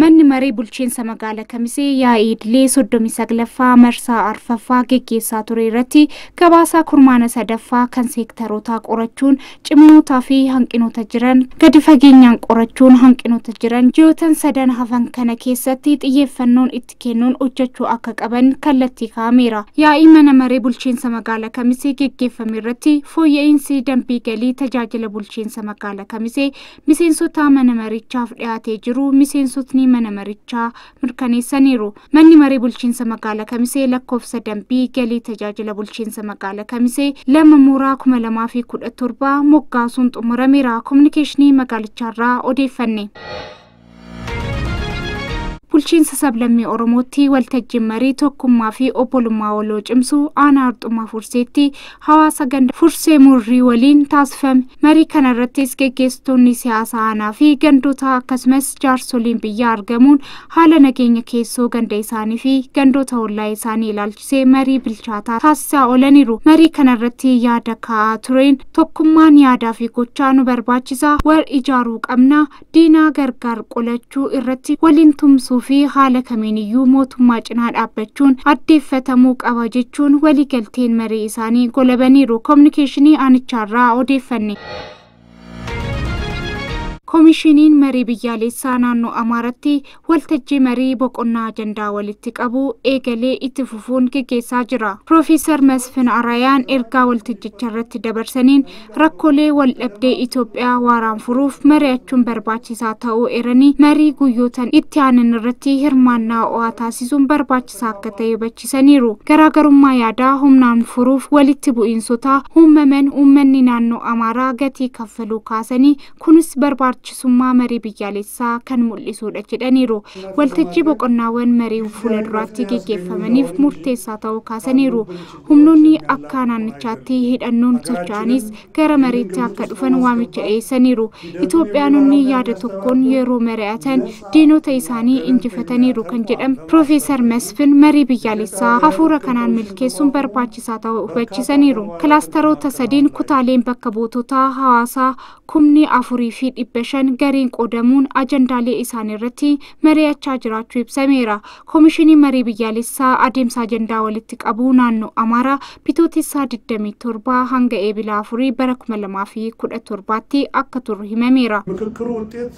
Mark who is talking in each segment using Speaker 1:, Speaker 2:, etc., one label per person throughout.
Speaker 1: Manni maree bulchiinsa magaala Kamisee yaa'ii idilee 39ffaa marsaa arfaffaa geggeessaa ture irratti gabaasaa kurmaana sadaffaa kan seektarootaa qorachuun ciminootaa fi hanqinoota jiran gadi fageenyaan qorachuun hanqinoota jiran ji'ootan sadan hafan kana keessatti xiyyeeffannoon itti kennuun hojjechuu akka qaban kallattii kaa'ameera. Yaa'ii mana maree bulchiinsa magaala Kamisee geggeeffame irratti fooyya'iinsi dambii galii tajaajila bulchiinsa magaala Kamisee miseensota mana marichaaf dhiyaatee jiru miseensotni mana marichaa mirkaneessaniiru. Manni maree bulchiinsa magaala Kamisee lakkoofsa dambii galii tajaajila bulchiinsa magaala Kamisee lama mooraa 2017 moggaasuun xumurameera. Kominikeeshinii magaalichaarraa odeeffanne. bulchiinsa sablammii oromootti waltajjiin marii tokkummaa fi obbolummaa waloo cimsuu aanaa harxummaa furseetti hawaasa ganda fursee murrii waliin taasifame marii kana irrattis geggeessitoonni siyaasa aanaa fi gandoota akkasumas jaarsoliin biyyaa argamuun haala nageenya keessoo ganda isaanii fi gandoota ollaa isaanii ilaalchisee marii bilchaataa taasisaa oolaniiru marii kana irratti yaada kaa'aa tureen tokkummaan yaadaa fi gochaa nu barbaachisa wal ijaaruu qabna diinaa gargaar qolachuu irratti waliin tumsuu fi haala kamiiniyyuu mootummaa cinaa dhaabbachuun addeeffatamuu qaba jechuun waliigalteen marii isaanii golabaniiru koominikeeshinii aanichaarraa odeeffanne. Koomishiniin marii biyyaalessaa naannoo Amaaratti Waltajjii marii boqonnaa ajandaa walitti qabu eegalee itti fufuun geggeessaa jira. Piroofeesar Masfin Arayaan ergaa waltajjicharratti dabarsaniin rakkoolee waldhabdee Itoophiyaa waaraan furuuf mari'achuun barbaachisaa ta'uu eeranii marii guyyootan itti aanan irratti hirmaannaa ho'aa taasisuun barbaachisaa akka ta'e hubachiisaniiru. Garaagarummaa yaadaa humnaan furuuf walitti bu'iinsotaa uummaman uummanni naannoo Amaaraa gatii kaffaluu kaasanii Kunis barbaachisummaa marii biyyaalessaa kan mul'isuudha jedhaniiru. Waltajjii boqonnaawwan marii fuula duraatti geggeeffamaniif murteessaa ta'uu kaasaniiru. Humnoonni akka naannichaatti hidhannoon socho'anis gara mariitti akka dhufan waamicha dhiyeessaniiru. Itoophiyaanonni yaada tokkoon yeroo mari'atan diinota isaanii injifataniiru kan jedhan Piroofeesar Masfin, marii biyyaalessaa hafuura kanaan milkeessuun barbaachisaa ta'uu hubachiisaniiru. Kilaastaroota sadiin kutaaleen bakka buutotaa hawaasaa kumni 4 fi 500 gareen qoodamuun ajandaalee isaaniirratti mari'achaa jiraachuu ibsameera. Komishinii Marii Biyyaalessaa adeemsa ajandaa walitti qabuu naannoo Amaaraa Bitootessaa 27 hanga Eebila 4 bara 2017tti akka turu himameera. ምክክሩ ውጤት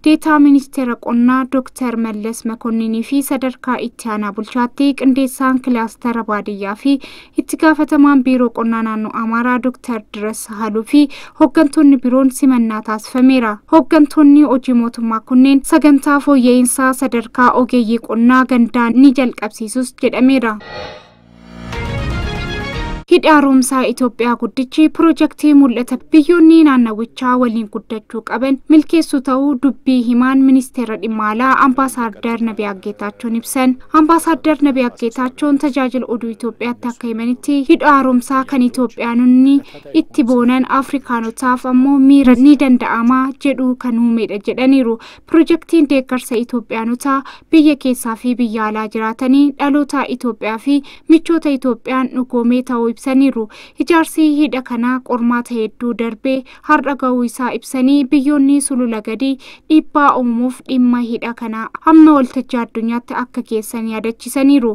Speaker 2: Deetaa Ministeera Qonnaa Dooktar Mallas Makonninii fi sadarkaa itti aanaa bulchaatti qindeessaan kilaastara baadiyyaa fi itti gaafatamaan biiroo qonnaa naannoo Amaaraa Dooktar Diras Sahaluu fi hooggantoonni biroon simannaa taasifameera. Hooggantoonni hojii mootummaa kunneen sagantaa fooyya'insaa sadarkaa ogeeyyii qonnaa gandaa ni jalqabsiisus jedhameera. Hidhi haaromsaa Itoophiyaa guddichi pirojektii mul'ata biyyoonni naannawichaa waliin guddachuu qaban milkeessuu ta'uu dubbii himaan ministeera dhimma alaa ambaasaaddar Nabiyaa Geetaachoon ibsan. Ambaasaaddar Nabiyaa Geetaachoon tajaajila oduu Itoophiyaatti akka himanitti hidha haaromsaa kan Itoophiyaanonni itti boonan Afrikaanotaaf ammoo miira ni danda'ama jedhu kan uumedha jedhaniiru. Pirojektiin deeggarsa Itoophiyaanota biyya keessaa fi biyya alaa jiraatanii dhaloota Itoophiyaa fi michoota Itoophiyaan dhugoomee ta'uu ibsaniiru. Ijaarsi hidha kanaa qormaata hedduu darbee har'a ga'uu isaa ibsanii biyyoonni sulula gadii dhiibbaa uumuuf dhimma hidha kanaa amma waltajjii addunyaatti akka geessan yaadachiisaniiru.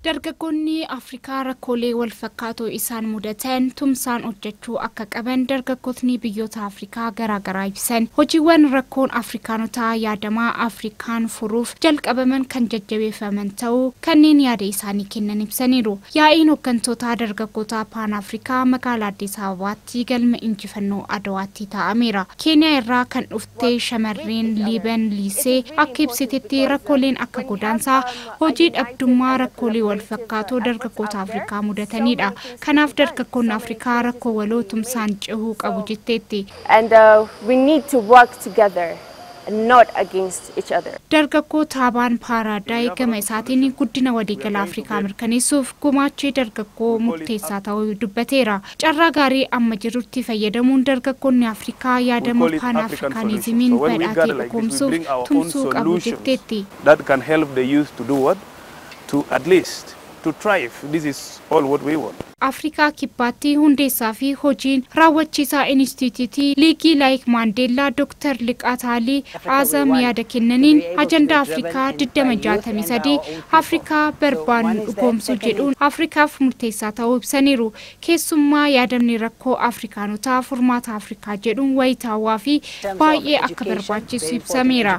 Speaker 1: Dargaggoonni Afrikaa rakkoolee walfakkaatoo isaan mudatan tumsaan hojjechuu akka qaban dargaggotni biyyoota Afrikaa garaa garaa ibsan. Hojiiwwan rakkoon Afrikaanotaa yaadamaa Afrikaan furuuf jalqabaman kan jajjabeeffaman ta'uu kanneen yaada isaanii kennan ibsaniiru. Yaa'iin hoggantoota dargaggootaa Paan Afrikaa magaalaa Addis Ababaatti galma injifannoo Adawaatti taa'ameera. Keeniyaa irraa kan dhufte shamarreen Liiban Liisee akka ibsitetti rakkooleen akka godaansaa, Hojii dhabdummaa rakkoolee wal fakkaatoo dargaggoota Afrikaa mudataniidha. Kanaaf dargaggoonni Afrikaa rakkoo waloo tumsaan cehuu qabu jetteetti. And
Speaker 2: we need to work together and not against each other. Dargaggoo Taabaan
Speaker 1: Paaraadaay gama isaatiin guddina waliigalaa Afrikaa mirkaneessuuf gumaachii dargaggoo murteessaa ta'uu dubbateera. Carraa gaarii amma jirutti fayyadamuun dargaggoonni Afrikaa yaadama Paan Afrikaanizimiin badhaate dhugoomsuuf tumsuu qabu jetteetti. that can help the
Speaker 3: youth to do what? to at least to thrive this is all what we want. Afrikaa Kibbaatti
Speaker 1: hundeessaa fi hojiin raawwachiisaa Inistiitiyuutii Liigii Laayik Maandeellaa Dr. Liqaa Taalii Aazam yaada kennaniin, ajandaa Afrikaa 2063 Afrikaa barbaannu dhugoomsuu jedhuun Afrikaaf murteessaa ta'uu ibsaniiru. Keessummaa yaadamni rakkoo Afrikaanotaa furmaata Afrikaa jedhuun wayitaawaa fi baay'ee
Speaker 4: akka
Speaker 1: barbaachisu ibsameera.